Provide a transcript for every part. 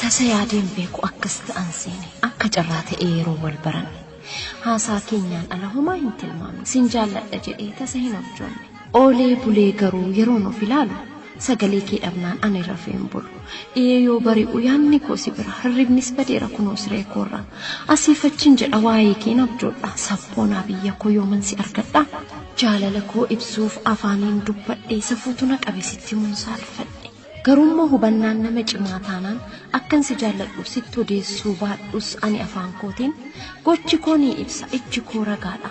Tasa yaadeen beeku akkas ta'an seene akka carraa ta'ee yeroo wal baranne haasaa keenyaan ala homaa hin tilmaamne sin jaalladha jedhee tasa hin abjoonne. Oolee bulee garuu yeroon of ilaalu sagalee kee dhabnaan ani rafee hin bulu. Dhiyee yoo bari'u yaadni koo si bira, hirribnis badeera kunoo siree koorra. Asiif achiin jedha waa'ee keen abjoodha. Sabboonaa biyya koo yooman si argadha? Jaalala koo ibsuuf afaaniin dubbadhe, safuutu na qabe sitti himuun saalfadhe. Garuummoo hubannaan nama cimaa taanaan akkan si jaalladhu sitti odeessuu baadhus ani afaan kootiin, gochi koo ni ibsa, ijji koo ragaadha.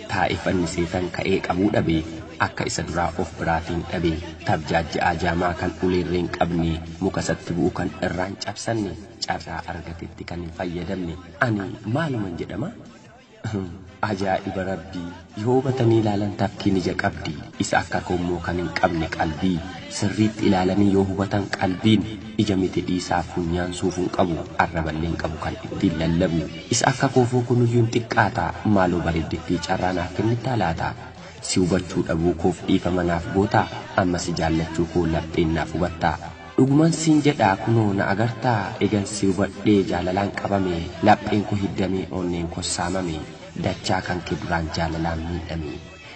taa'e fannisee tan ka'ee qabuu dhabe akka isa duraa of biraatiin dhabe tabjaajja'aa jaamaa kan ulee irree hin qabne muka isatti bu'u kan irraa hin cabsanne carraa argatetti kan hin fayyadamne ani maaluman jedhama ajaa'iba rabbii yoo hubatanii ilaalan tafkiin ija qabdi isa akka koommoo kan hin qabne qalbii sirriitti ilaalanii yoo hubatan qalbiin Ija miti dhiisaa funyaan suufuun qabu arraballeen qabu kan ittiin lallabu Isa akka koo fookunuyyuun xiqqaata maaloo bareeddittii carraa naaf kennittaa laata Si hubachuu dhabuu koof dhiifama naaf gootaa Amma si jaallachuu koo lapheen naaf hubattaa Dhuguman siin jedhaa kunoo na agartaa Egan si hubadhee jaalalaan qabame Lapheen ko hiddamee onneen kos saamame Dachaa kanke duraan jaalalaan miidhame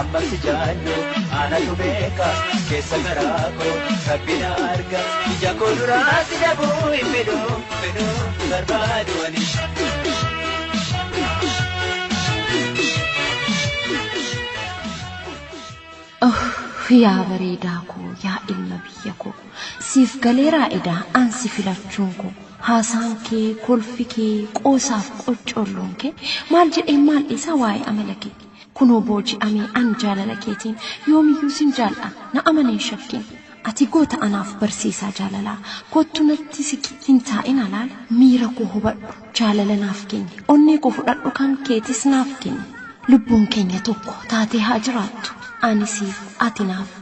Amma si jaadhu anatu beeka keessa garaa koo rabbi na arga ija koo duraa si dhabuu hin fedhu fedhu hin barbaadu ani. Oh, yaa bareedaa koo yaa ilma biyya koo siif galeeraa edaa an si filachuun koo haasaan kee kolfi kee qoosaaf qoccolloon kee maal jedheen maal dhiisaa waa'ee amala kee Kunoo booji'ame an jaalala keetiin Yoomiyyuu sin jaal'dha na amani hin shakkin Ati goota anaaf barsiisaa jaalalaa Kottu natti siqi hin taa'in alaal Miira koo hubadhu jaalala naaf kenni Onnee koo fudhadhu kan keetis naaf kenni Lubbuun keenya tokko taatee haa jiraattu Ani siif ati naaf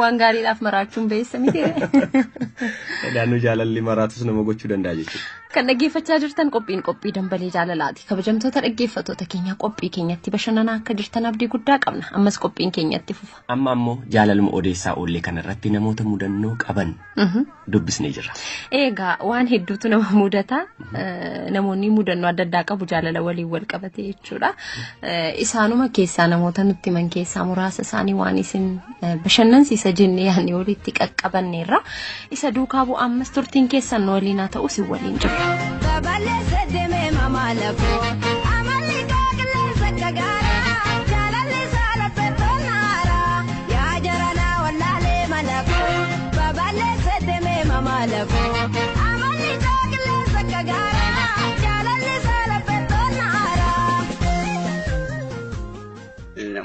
Waan gaariidhaaf maraachuun beessa miti. Naannoo jaalalli maraatus nama gochuu danda'a jechuudha. Kan dhaggeeffachaa jirtan qophiin qophii dambalee jaalalaati. Kabajamtoota dhaggeeffattoota keenya qophii keenyatti bashannanaa akka jirtan abdii guddaa qabna. Ammas qophiin keenyatti fufa. Amma ammoo jaalaluma odeessaa oollee kanarratti namoota mudannoo qaban dubbisnee jirra. Egaa waan hedduutu nama mudata. Namoonni mudannoo adda addaa qabu jaalala waliin wal qabate jechuudha. Isaanuma keessaa namoota nutti himan keessaa muraasa isaanii waan isin bashannansiisa jennee yaadne walitti qaqqabanneerra. Isa duukaa bu'aa ammas turtiin keessan nu waliin haa ta'u isin waliin jirra. Babal'eessa deemee mamaa lafoo amalli gaagillee sakka gaaraa jaalalli isaa laphee tolaa. Yaa jaranaa wallaalee mana koo babal'eessee demee mamaala koo amalli isaa qilleensa akka gaaraa jaalalli isaa laphee toonna aaraa.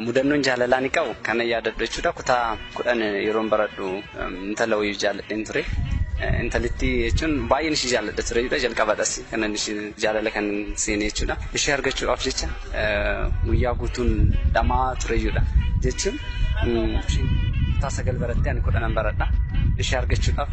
Mudannoon jaalalaa ni qabu kana yaadadhu jechuudha kutaa kudhan yeroon baradhu intala wayii jaalladheen ture. Intalittii jechuun baay'een ishii jaalladha ture jechuudha jalqabadhas kanan ishii jaalala kan seenee jechuudha ishii argachuudhaaf jecha guyyaa guutuun dhamaa ture jechuudha. Jechuun isheen kutaa sagal barattee ani kudhanan baradha. Ishee argachuudhaaf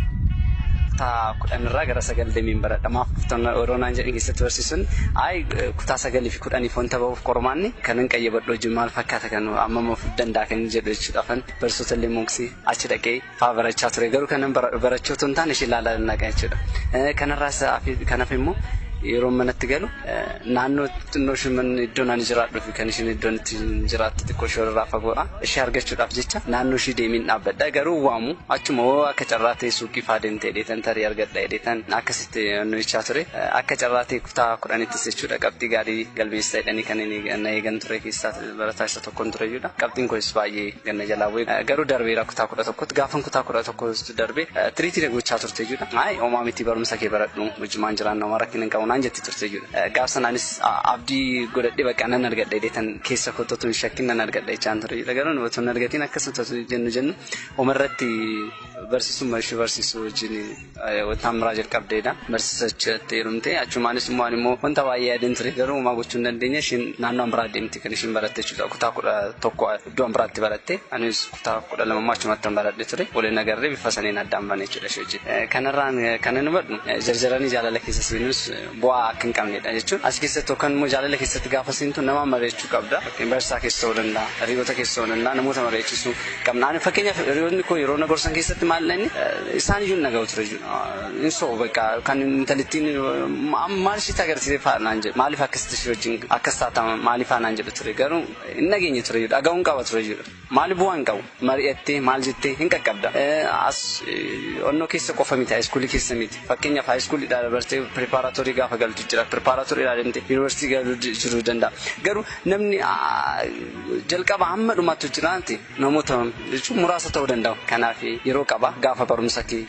kutaa kudhan irraa gara sagal deemeen baradha. Maaf kuftan yeroo naan jedhan keessatti barsiisuun ayi kutaa sagalii fi kudhaniif wanta bahuuf qormaanni kanan qayyabadhu wajjin maal fakkaata kan amma mafuuf danda'a kan jedhu jechuudha. Afan barsiisota illee mooksii achi dhaqee faa barachaa ture garuu kanan barachuu otoo hin taane ishee ilaalaa nan dhaqa jechuudha. Kanarraas kan hafe immoo yeroo manatti galu naannoo xinnoo ishee manni iddoo naan jiraadhuu fi kan isheen iddoon itti jiraattu xiqqoo ishee irraa fagoodha. Ishee argachuudhaaf jecha naannoo ishee deemiin dhaabbadha garuu waamu achuma hoo akka carraa ta'e suuqii faa deemtee dheetan tarii argadha dheetan akkasitti nuyichaa ture akka carraa ta'e kutaa kudhanittis jechuudha qabxii gaarii galmeessita jedhanii kan na eegan ture keessaa Barataa isa tokkon ture jechuudha. Qabxiin kunis baay'ee ganna jalaa bu'e. Garuu darbeera kutaa kudha tokkotti. Gaafan kutaa kudha tokko darbe tiriitii na gochaa turte jechuudha. Maayi homaa miti barumsa kee baradhu hojimaan jiraanna homaa rakkina hin qabu naan jetti turte jechuudha. Gaaf sanaanis abdii godhadhee bakka nan argadha jedheetan keessa kootti otoo hin shakkin nan argadha jechaan ture jechuudha. Garuu otoo hin argatiin akkasuma jennu jennu homarratti barsiisummaa ishee barsiisuu wajjin Taammiraa jalqabdeedha. Barsiisa achitti heerumte. Achumaanis immoo ani immoo wanta baay'ee yaadeen ture garuu homaa gochuu hin dandeenye isheen naannoo an biraa deemte kan isheen baratte jechuudha. Kutaa kudha tokko iddoo an biraatti baratte anis kutaa kudha lama immoo achumatti an baradhe ture. Waliin agarree bifa saniin addaan bane jechuudha ishee wajjin. Kanarraan kan ani hubadhu jarjaranii jaalala keessa seenuus bu'aa akka hin qabnedha jechuun as keessatti yookaan immoo jaalala keessatti gaafa seentu nama mari'achuu qabda. Fakkeen barsiisaa keessa ta'uu danda'a, hiriyoota keessa ta'uu danda'a, namoota mari'achiisuu qabna. Ani fakkeenyaaf hiriyoonni koo yeroo na gorsan keessatti maalidha inni isaan iyyuu na ga'u ture jechuudha. Hin sobu bakka kan intalittiin maal ishiitti agarsiisee fa'a naan jedhu maaliif akkasitti ishii wajjin akkas taata maaliifaa naan jedhu ture garuu hin dhageenye ture jechuudha dhaga'uun qaba ture jechuudha. Maali bu'aa hin qabu. Mari'attee maal jettee hin qaqqabda. As onnoo keessa qofa miti high school keessa miti. Fakkeenyaaf high school dhaa dabartee preparatory gaafa galtu jira. Preparatory dhaa deemtee university galuu jiruu danda'a. Garuu namni jalqaba hamma dhumaattu jiraate namoota jechuun muraasa ta'uu danda'u. Kanaaf yeroo qaba gaafa barumsa kee.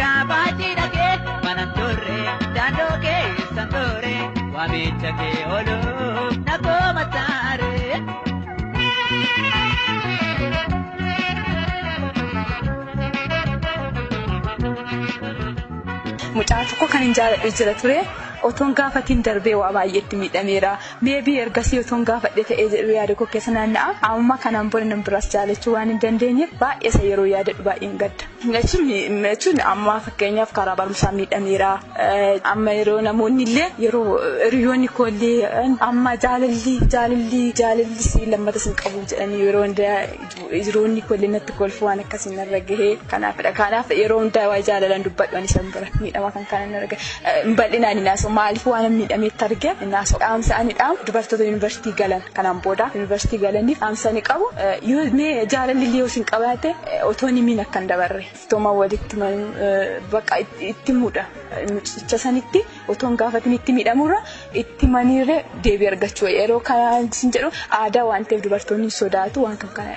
Gaafaachi dhagee manan turre daandoo keessan ture waamicha kee ooluuf na kooma taare. mucaa tokko kan hin jaaladhe jira ture otoon gaafatiin darbee waa baay'eetti miidhameera meebii ergasii otoon gaafadhe ta'ee jedhu yaada koo keessa naanna'a amma kanaan booda nan biraas jaalachuu waan hin dandeenyeef baay'eesa yeroo yaadadhu baay'een gadda. Jechuun amma fakkeenyaaf karaa barumsaa miidhameera. Amma yeroo namoonni illee yeroo hiriyoonni koo illee amma jaalalli jaalalli jaalalli si lammata sin qabu jedhanii yeroo hundaa hiriyoonni koo illee natti kolfu waan akkasii narra gahee kanaafidha. Kanaaf yeroo hundaa waa jaalalan dubbadhu ani san bira miidhama kan kana narra gahe bal'inaan hin haasa'u maaliif waan miidhameetti arge hin haasa'u. Dhaamsa ani dhaamu dubartoota yuunivarsiitii galan. Kanaan booda Yuunivarsiitii galaniif dhaamsa ani qabu yoo mee jaalalli illee yoo isin qabaate otoo hin himiin akka hin dabarre iftooma walitti himanuu baqa itti muudha mucicha sanitti otoo hin gaafatin itti miidhamurra itti maniirre deebii argachuu yeroo kana isin jedhu aadaa waan ta'eef dubartoonni sodaatu waan kan kana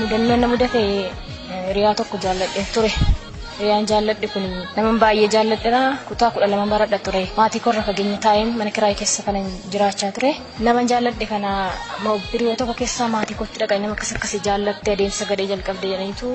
Mudannoon na mudate hiriyaa tokko jaalladhe ture. Hiriyaan jaalladhe kun nama baay'ee jaalladhera kutaa kudha lama baradha ture. Maatii korra fageenya taa'een mana kiraay keessa kana jiraachaa ture. Nama jaalladhe kana biriyoo tokko keessa maatii kootti dhaqanii nama akkas akkasii jaallatte adeemsa gadhee jalqabde jedhaniitu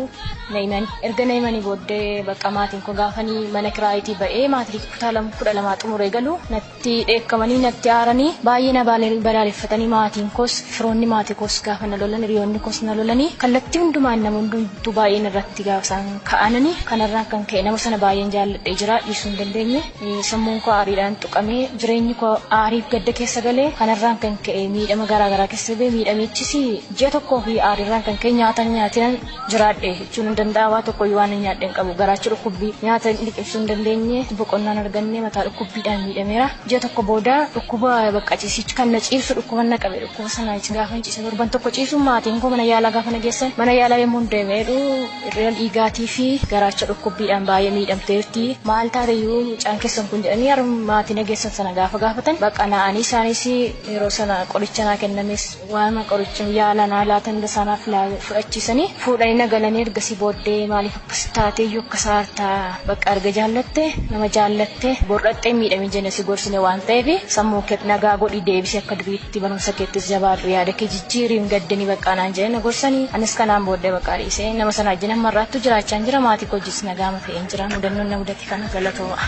na himan. Erga na himanii booddee bakka maatiin koo gaafanii mana kiraayitii ba'ee maatii kutaa kudha lamaa xumuree galu natti dheekkamanii natti aaranii baay'ee na balaaleffatanii maatiin koos firoonni maatii koos gaafa na lolan hiriyoonni koos na lolanii kallattii hundumaan nama hundumtuu baay'een irratti gaafa isaan ka'anani kanarraan kan ka'e nama sana baay'een jaalladhee jira dhiisuu hin dandeenye sammuun koo aariidhaan tuqamee jireenyi koo aariif gadda keessa galee kanarraan kan ka'e miidhama garaa garaa keessa ba'e miidhamichis ji'a tokkoo fi aariirraan kan ka'e nyaatan nyaatinan jiraadhe jechuun hin danda'a waa tokkoyyuu waan hin nyaadhe hin qabu garaachi dhukkubbii nyaata hin liqimsuu hin dandeenye boqonnaan arganne mataa dhukkubbiidhaan miidhameera ji'a tokko booda dhukkuba bakka ciisichi kan na ciibsu dhukkuba na qabe dhukkuba sana gaafa hin ciise torban tokko ciisu maatiin koo mana yaalaa gaafa na geessan mana yaalaa yommuu deemeedhu irreen dhiigaatii fi garaacha dhukkubbiidhaan baay'ee miidhamteerti maal taateyyuu mucaan keessan kun jedhanii harma maatii na geessan sana gaafa gaafatan bakka naa'anii isaanis yeroo sana qoricha naa kennames Waanuma qoricha yaala naa laatan dasaa naaf fudhachiisanii fuudhanii na galanii ergasii booddee maaliif akkas taatee iyyuu akkas aarta bakka erga jaallatte nama jaallatte bor'axxee miidhame jenne si gorsine waan ta'eef sammuu keet nagaa godhi deebisi akka duriitti barumsa keettis jabaadhu yaada kee jijjiiri hin gaddini baqqaa naan jedhee na gorsanii anis kanaan booddee baqqaa dhiisee nama sana wajjin amma irraattuu jiraachaan jira maatii koo wajjis nagaama ta'een jira mudannoon na mudate kana galatoomaa.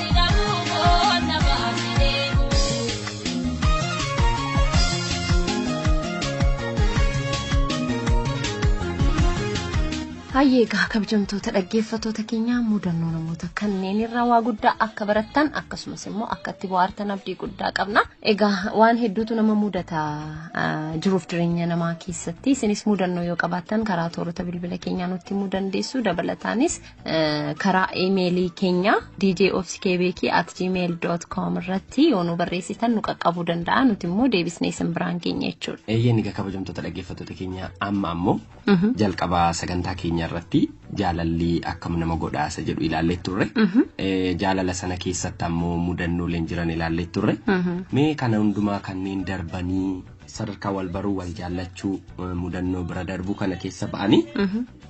Hayyee egaa kabajamtoota dhaggeeffattoota keenyaa mudannoo namoota kanneen irraa waa guddaa akka barattan akkasumas immoo akka itti bohaartan abdii guddaa qabna. Egaa waan hedduutu nama mudata ah, jiruuf jireenya namaa keessatti isinis mudannoo yoo qabaattan karaa toorota bilbila keenyaa nutti himuu dandeessu dabalataanis karaa imeelii keenya djofskbk@gmail.com irratti yoo nu barreessitan nu qaqqabuu danda'a nuti immoo deebisnee isin biraan keenya jechuudha. Eeyyeen egaa kabajamtoota dhaggeeffattoota keenya amma ammoo jalqaba sagantaa keenya irratti jaalalli akkam nama godhaasa jedhu ilaallee turre. Jaalala sana keessatti ammoo mudannooleen jiran ilaallee turre. Mee kana hundumaa kanneen darbanii sadarkaa wal baruu wal jaallachuu mudannoo bira darbuu kana keessa ba'anii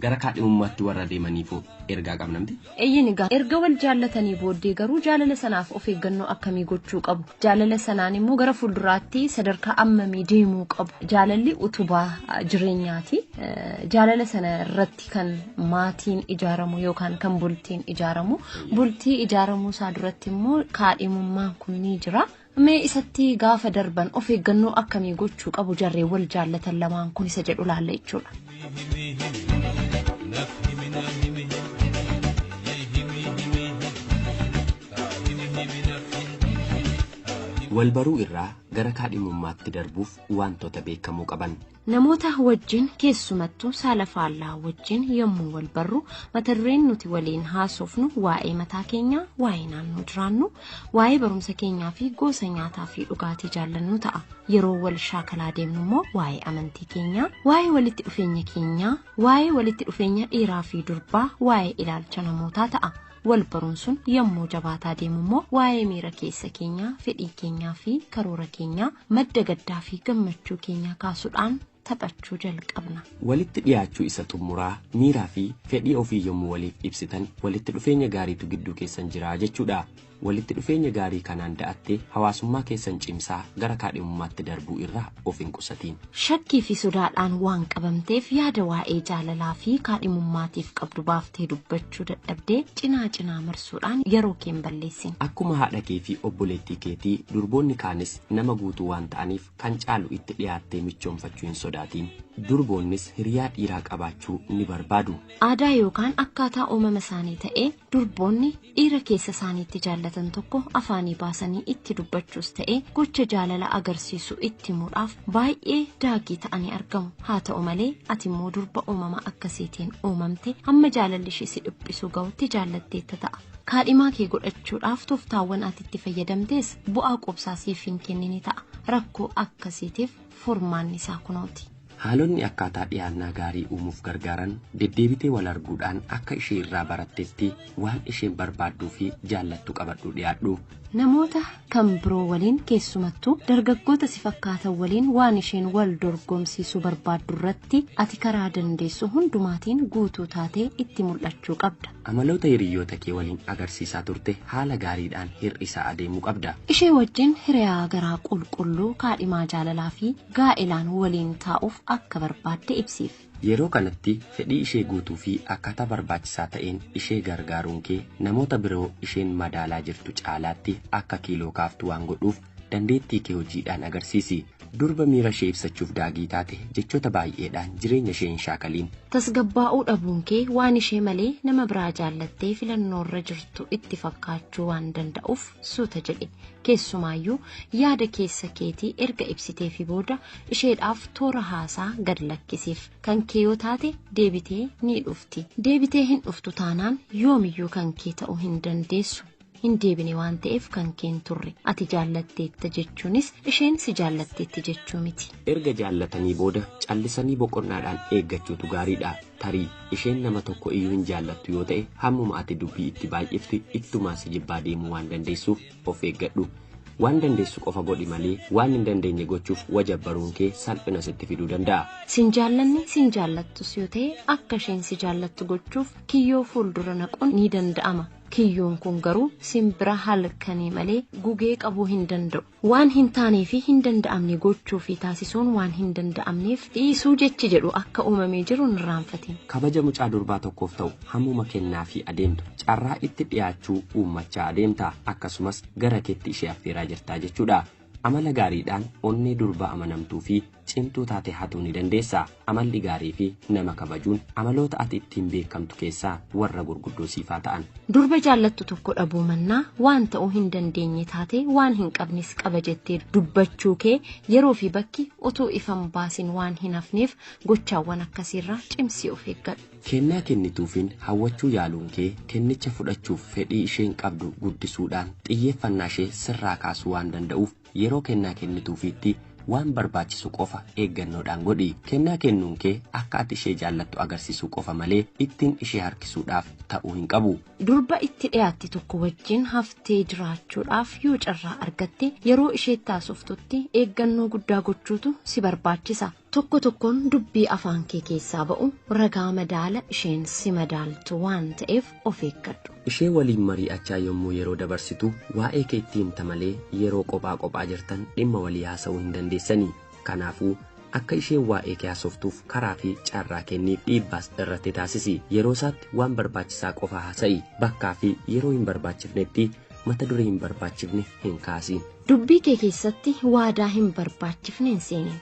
gara kaadhimummaatti warra deemaniifoo ergaa qabna miti? Eeyyeen egaa erga wal jaallatanii booddee garuu jaalala sanaaf of eeggannoo akkamii gochuu qabu? Jaalala sanaan immoo gara fuulduraatti sadarkaa ammamii deemuu qabu? Jaalalli utubaa ah, jireenyaati. Eh, Jaalala sana irratti kan maatiin ijaaramu yookaan kan bultiin ijaaramu. Bultii ijaaramuu isaa duratti immoo kaadhimummaan kun ni jira. Mee isatti gaafa darban of eeggannoo akkamii gochuu qabu jarreen wal jaallatan lamaan kun isa jedhu laalla jechuudha. Walbaruu irraa gara kaadhimummaatti darbuuf waantota beekamuu qaban. Namoota wajjin keessumattuu saala faallaa wajjin yommuu wal barru mata dureen nuti waliin haasofnu waa'ee mataa keenyaa, waa'ee naannoo jiraannu, waa'ee barumsa keenyaa fi gosa nyaataa fi dhugaatii jaallannu ta'a. Yeroo wal shaakalaa deemnu immoo waa'ee amantii keenyaa, waa'ee walitti dhufeenya keenyaa, waa'ee walitti dhufeenya dhiiraa fi durbaa, waa'ee ilaalcha namootaa ta'a. Wal baruun sun yommuu jabaataa deemu immoo waa'ee miira keessa keenyaa, fedhii keenyaa fi karoora keenyaa Madda gaddaa fi gammachuu keenyaa kaasudhaan taphachuu jalqabna. Walitti dhiyaachuu isa xummuraa, miiraa fi fedhii ofii yommu waliif ibsitan walitti dhufeenya gaariitu gidduu keessan jira jechuu dha. Walitti dhufeenya gaarii kanaan da'attee hawaasummaa keessan cimsaa gara kaadhimummaatti darbuu irra of hin qusatiin. Shakkii fi sodaadhaan waan qabamteef yaada waa'ee jaalalaa fi kaadhimummaatiif qabdu baaftee dubbachuu hojjechuu dadhabdee cinaa cinaa marsuudhaan yeroo kee hin balleessin. Akkuma haadha kee fi obboleettii keetii durboonni kaanis nama guutuu waan ta'aniif kan caalu itti dhiyaattee michoomfachuu hin sodaatiin. Durboonnis hiriyaa dhiiraa qabaachuu ni barbaadu. Aadaa yookaan akkaataa uumama isaanii ta'ee durboonni dhiira keessa isaaniitti jaallatan tokko afaanii baasanii itti dubbachuus ta'ee gocha jaalala agarsiisu itti himuudhaaf baay'ee daagii ta'anii argamu haa ta'u malee ati immoo durba uumama akkasiitiin uumamte hamma jaalalli ishee si dhiphisuu ga'utti jaallatteetta ta'a kaadhimaa kee godhachuudhaaf toftaawwan ati itti fayyadamtees bu'aa quubsaa siif hin kennine ta'a rakkoo akkasiitiif furmaanni isaa kunooti. Haalonni akkaataa dhiyaannaa gaarii uumuuf gargaaran deddeebitee wal arguudhaan akka ishee irraa barattetti Waan isheen barbaadduu fi jaallattu qabadhuu dhiyaadhu. Namoota kan biroo waliin keessumattuu dargaggoota si fakkaatan waliin waan isheen wal dorgomsiisuu barbaaddu irratti ati karaa dandeessu hundumaatiin guutuu taatee itti mul'achuu qabda. Amaloota hiriyyoota kee waliin agarsiisaa turte haala gaariidhaan hir'isaa adeemuu qabda. Ishee wajjin hiriyaa garaa qulqulluu kaadhimaa jaalalaa fi gaa'elaan waliin taa'uuf akka barbaadde ibsiif. Yeroo kanatti fedhii ishee guutuu fi akkaataa barbaachisaa ta'een ishee gargaaruun kee namoota biroo isheen madaalaa jirtu caalaatti akka kiiloo kaaftu waan godhuuf dandeettii kee hojiidhaan agarsiisi. Durba miira ishee ibsachuuf daagii taate jechoota baay'eedhaan jireenya ishee hin shaakaliin. Tasgabbaa'uu dhabuun kee waan ishee malee nama biraa jaallattee filannoo irra jirtu itti fakkaachuu waan danda'uuf suuta jedhi. Keessumaayyuu yaada keessa keetii erga ibsiteefii booda isheedhaaf toora haasaa gad lakkisiif kan kee yoo taate deebitee ni dhufti deebitee hin dhuftu taanaan yoomiyyuu kan kee ta'uu hin dandeessu hin deebine waan ta'eef kan kee hin turre ati jaallatteetta jechuunis isheen si jaallatteetti jechuu miti. Erga jaallatanii booda callisanii boqonnaadhaan eeggachuutu gaariidha. Tarii isheen nama tokko iyyuu hin jaallattu yoo ta'e hammuma ati dubbii itti baay'ifte ittumaa si jibbaa deemuu waan dandeessuuf of eeggadhu. Waan dandeessu qofa godhi malee waan hin dandeenye gochuuf wajabbaruun kee salphina sitti fiduu danda'a. Sin jaallanne sin jaallattus yoo ta'e akka isheen si jaallattu gochuuf kiyyoo fuuldura naquun ni danda'ama. Kiyyoon kun garuu simbira halkanii malee gugee qabuu hin danda'u. Waan hin taanee fi hin danda'amne gochuu fi taasisuun waan hin danda'amneef dhiisuu jechi jedhu akka uumamee jiru hin irraanfatin. Kabaja mucaa durbaa tokkoof ta'u Hammuma kennaafii adeemtu carraa itti dhiyaachuu uummachaa adeemta, akkasumas gara keetti ishee affeeraa jirta jechuudha. Amala gaariidhaan onnee durbaa amanamtuu fi cimtuu taate hatuu ni dandeessa. Amalli gaarii fi nama kabajuun amaloota ati ittiin beekamtu keessaa warra gurguddoo siif haa ta'an. Durba jaallattu tokko dhabuu mannaa waan ta'uu hin dandeenye taate waan hin qabnes qaba jettee dubbachuu kee yeroo fi bakki utuu ifa hin baasin waan hin hafneef gochaawwan akkasiirraa cimsii of eeggadhu. Kennaa kennituufiin hawwachuu yaaluunkee kennicha fudhachuuf fedhii isheen qabdu guddisuudhaan xiyyeeffannaashee sirraa kaasuu waan danda'uuf yeroo kennaa kennituufiitti waan barbaachisu qofa eeggannoodhaan godhi. Kennaa kennuunkee akka ati ishee jaallattu agarsiisuu qofa malee ittin ishee harkisuudhaaf ta'uu hin qabu. Durba itti dhiyaatte tokko wajjin haftee jiraachuudhaaf yoo carraa argatte, yeroo isheetti haasoftutti eeggannoo guddaa gochuutu si barbaachisa. Tokko tokkoon dubbii afaan kee keessaa ba'u ragaa madaala isheen si madaaltu waan ta'eef of eeggadhu. Ishee waliin marii'achaa yommuu yeroo dabarsitu waa'ee kee itti himta malee yeroo qophaa qophaa jirtan dhimma walii haasa'uu hin dandeessanii. Kanaafuu, akka isheen waa'ee kee haasoftuuf karaa fi carraa kenniif dhiibbaas irratti taasisi. Yeroo isaatti waan barbaachisaa qofa haasa'i. Bakkaa fi yeroo hin barbaachifnetti mata duree hin barbaachifne hin kaasiin. Dubbii kee keessatti waadaa hin barbaachifne hin seeniin.